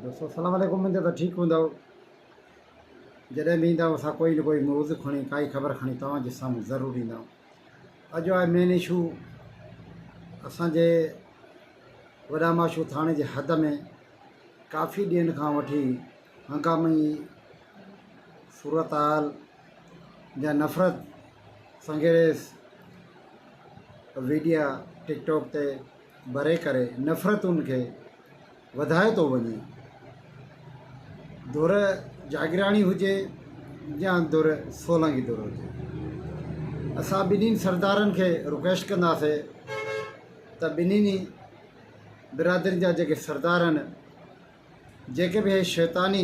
دوستو السلام عليڪم اميد ته ٺيڪ هوندؤ جڏهن به ايندا آهيو اسان ڪوئي نه ڪوئي موضوع کڻي ڪائي خبر کڻي توهان جي سامهون ضرور ايندا آهيون اڄ آهي مين اشو اسان جي وڏا ماشو ٿاڻي جي حد ۾ ڪافي ڏينهن کان وٺي هنگامي صورتحال جا نفرت سنگيريس ويڊيا ٽڪ ٽاڪ تي ڀري ڪري نفرتن کي وڌائي ٿو وڃي. ڌر جاگيراڻي هجي يا ڌر سولنگي ڌر هجي اسان ٻنهي سردارن کي رڪويسٽ ڪنداسي ته ٻنهي برادرين جا جيڪي سردار آهن جيڪي به هي شيطاني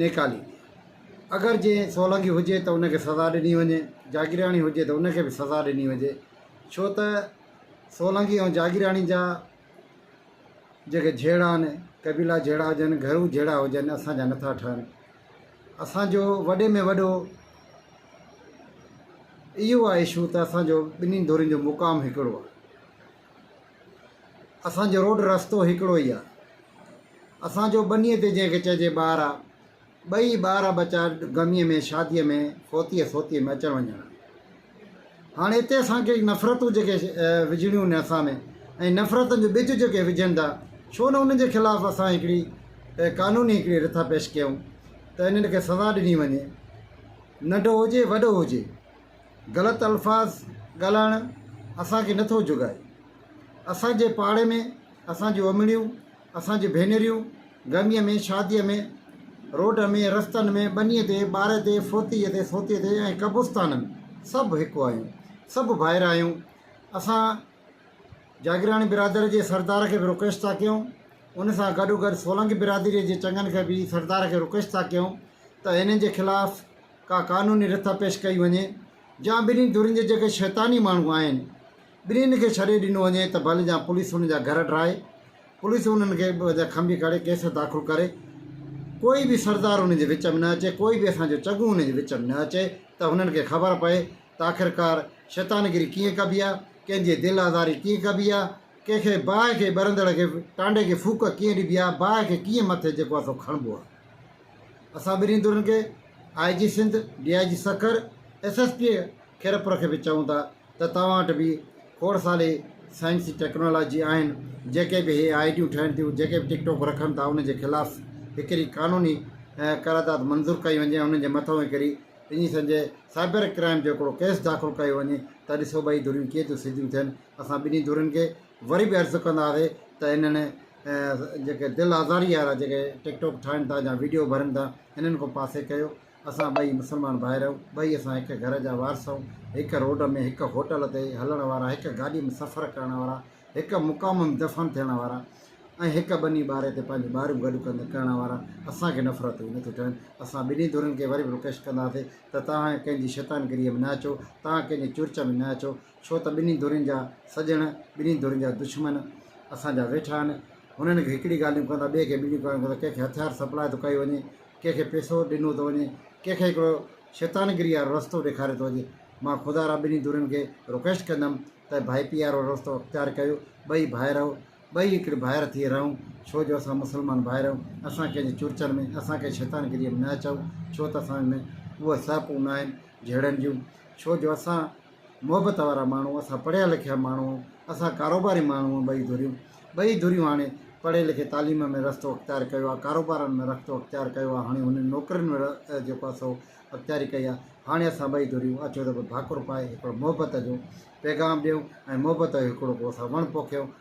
نيڪالي ڏي. اگر جي سولنگي هجي ته ان کي سزا ڏني وڃي، جاگيراڻي هجي ته ان کي به سزا ڏني وڃي، ڇو ته سولنگي ۽ جاگيراڻي جا جيڪي جهيڙا آهن، قبيلا جهيڙا هجن، گهرو جهيڙا هجن، اسان جا نٿا ٺهن. اسان جو وڏي ۾ وڏو اهو آهي اشو ته اسان جو ٻنهي ڌرين جو مقام هڪڙو آهي. اسان جو روڊ رستو هڪڙو ئي آ. اسان جو ٻنيء تي جنهن کي چئجي ٻار آ. ٻئي ٻار آ ٻچا غميء ۾ شاديء ۾ فوتيء سوتيء ۾ اچڻ وڃڻ آ. هاڻ اتي اسان کي نفرتون جيڪي وجهڻيون آهن اسان ۾ ۽ نفرتن جو ٻج جيڪي وجهن ٿا ڇو نه انهن جي خلاف اسان هڪڙي قانوني هڪڙي رٿا پيش ڪيون ته انهن کي سزا ڏني وڃي ننڍو هجي وڏو هجي. غلط الفاظ ڳالهائڻ اسان کي نٿو جهڳائي. اسان جي پاڙي ۾ اسان جون امڙيون، اسان جون ڀينريون گرميء ۾ شاديء ۾ روڊ ۾ رستن ۾ ٻنيء تي ٻارهي تي ڦوتيء تي سوتيء تي ۽ قبرستانن ۾ سڀ هڪ آهيون، سڀ ڀائر آهيون. اسان جاگيراڻي برادري جي سردار کي به رڪويسٽ ٿا ڪيون ان سان گڏوگڏ سولنگي برادريء جي چڱن کي به سردار کي رڪويسٽ ٿا ڪيون ته هنن جي خلاف ڪا قانوني رٿا پيش ڪئي وڃي جا ٻنهي ڌرين جي جيڪي شيطاني ماڻهو آهن ٻنهين کي ڇڏي ڏنو وڃي ته ڀل جا پوليس انهن جا گهر ڊاهي پوليس انهن کي ٻه جا کنڀي ڪڙي ڪيس داخل ڪري ڪوئي به سردار انهن جي وچ ۾ نه اچي ڪوئي به اسان جو چڱو انهن جي وچ ۾ نه اچي ته هنن کي خبر پئي ته آخرڪار شيطانگري ڪيئن ڪبي آهي ڪنهن جي دل آزاري ڪيئن ڪبي آهي ڪنهن کي باهه کي ٻرندڙ کي ٽانڊي کي ڦوڪ ڪيئن ڏبي آهي باهه کي ڪيئن مٿي جيڪو آهي سو کڻبو آهي. اسان ٻنهي ڌرين کي I G Sindh, D I G Sukkur, S S P Khairpur کي به چئون ٿا ته توهان وٽ به کوڙ ساري سائنسي ٽيڪنالاجي آهن جيڪي به هي آئي ڊيون ٺهن ٿيون جيڪي به ٽڪ ٽوڪ رکن ٿا انهن جي خلاف هڪڙي قانوني قرارداد منظور ڪئي وڃي ۽ انهن جي مٿئون هڪڙي انهي سمجهي سائبر ڪرائم جو هڪڙو ڪيس داخل ڪيو وڃي ته ڏسو ٻئي ڌريون ڪيئن ٿيون سڌيون ٿين اسان ٻنهي ڌرين کي وري به عرض ڪنداسي ته انهن جيڪي دل آزاري وارا جيڪي ٽڪ ٽاڪ ٺاهن ٿا يا ويڊيو ڀرن ٿا انهن کان پاسي ڪيو اسان ٻئي مسلمان ڀائر آهيون ٻئي اسان هڪ گهر جا وارث آهيون هڪ روڊ ۾ هڪ هوٽل تي هلڻ وارا هڪ گاڏي ۾ سفر ڪرڻ وارا هڪ مقام ۾ دفن ٿيڻ وارا ۽ هڪ ٻني ٻاري تي پنهنجون ٻاريون گڏ ڪندي ڪرڻ وارا اسان کي نفرتون نه ٿيون ٺهن اسان ٻنهي ڌرين کي وري به رڪويسٽ ڪنداسي ته توهان ڪنهن جي شيطانگريء ۾ نه اچو توهان ڪنهن جي چرچ ۾ نه اچو ڇو ته ٻنهي ڌرين جا سڄڻ، ٻنهي ڌرين جا دشمن اسان جا ويٺا آهن. هنن کي هڪڙي ڳالهيون ڪندا، ٻئي کي ٻيون ڳالهيون ڪندا، ڪنهن کي هٿيار سپلاء ٿو ڪيو وڃي، ڪنهن کي پيسو ڏنو ٿو وڃي، ڪنهن کي هڪڙو شيطانگري وارو رستو ڏيکاريو ٿو وڃي. مان خدا را ٻنهي ڌرين کي رڪويسٽ ڪندم ته ڀائپي وارو رستو اختيار ڪيو، ٻئي ڀائر آهيون، ٻئي هڪڙي ڀائر ٿي رهون، ڇو جو اسان مسلمان ڀائر آهيون، اسان ڪنهن جي چرچن ۾، اسان ڪنهن شيطانگريء ۾ نه اچون، ڇو ته اسان ۾ اهي سهپون نه آهن جهيڙن جون، ڇو جو اسان. محبت وارا ماڻهو، اسان پڙهيا لکيا ماڻهو، اسان ڪاروباري ماڻهو ٻئي ڌريون ٻئي ڌريون هاڻي پڙهي لکي تعليم ۾ رستو اختيار ڪيو آهي، ڪاروبارن ۾ رختو اختيار ڪيو آهي، هاڻي هنن نوڪرين ۾ جيڪو آهي سو اختياري ڪئي آهي، هاڻي اسان ٻئي ڌريون اچو ته به ڀاڪر پائي هڪڙو محبت جو پيغام ڏيون ۽ محبت جو هڪڙو ڪو اسان وڻ پوکيون.